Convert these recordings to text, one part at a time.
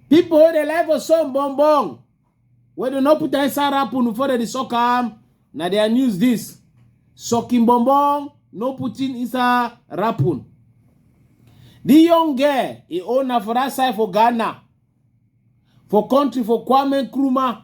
People wey dey lie for some bong bong wey dey no put inside apple before dem dey suck am na their news this sucking bong bong no putting inside apple. The young girl e own na for that side for Ghana for country for Kwame Nkrumah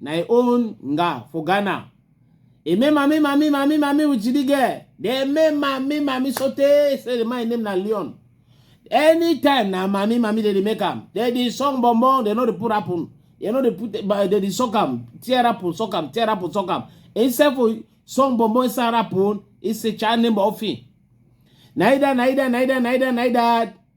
na im own nga for Ghana. E make mami mami mami mami with the girl. They make mami mami so tey say the man name na Leon. Anytime na mami mami they dey make am. They dey song bom bom, they no dey put apple. They no dey put but they dey suck am, tear apple, suck am, tear apple, suck am. Instead for song bom bom inside apple, it's a child name of him. Naida, naida, naida, naida, naida.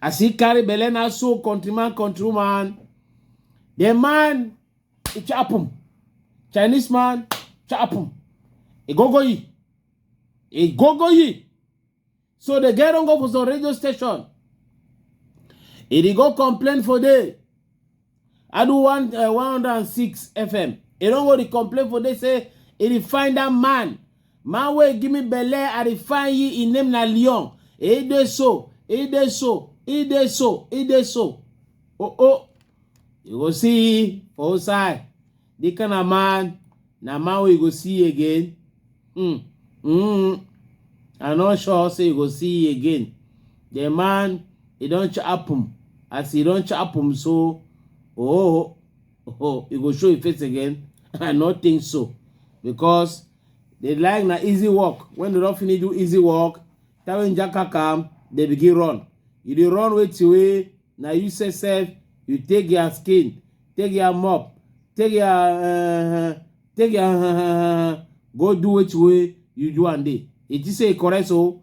As he carry belle na so countryman, countrywoman, the man, he chop him. Chinese man, chop him. He go go ye. He go go ye. So the girl don't go for some radio station. He dey go complain for there. I do one uh, 106 FM. He don't go to complain for they say he dey find that man. Man wey give me belle, I dey find ye in name na Leon. He dey so, he dey so, he dey so, he dey so. Oh oh. You go see for outside. This kind of man, na man wey you go see again. Mm. Mm. I no sure say you go see again. The man, he don chop him. As he don chop him, so oh, oh, you go show your face again. I no think so because they like na easy work. When they don finish do easy work, that when jaka come, they begin run. You dey run wait till wey na you say self you take their skin take your mop take your uh, take your uh, go do which way you do and day it is say correct so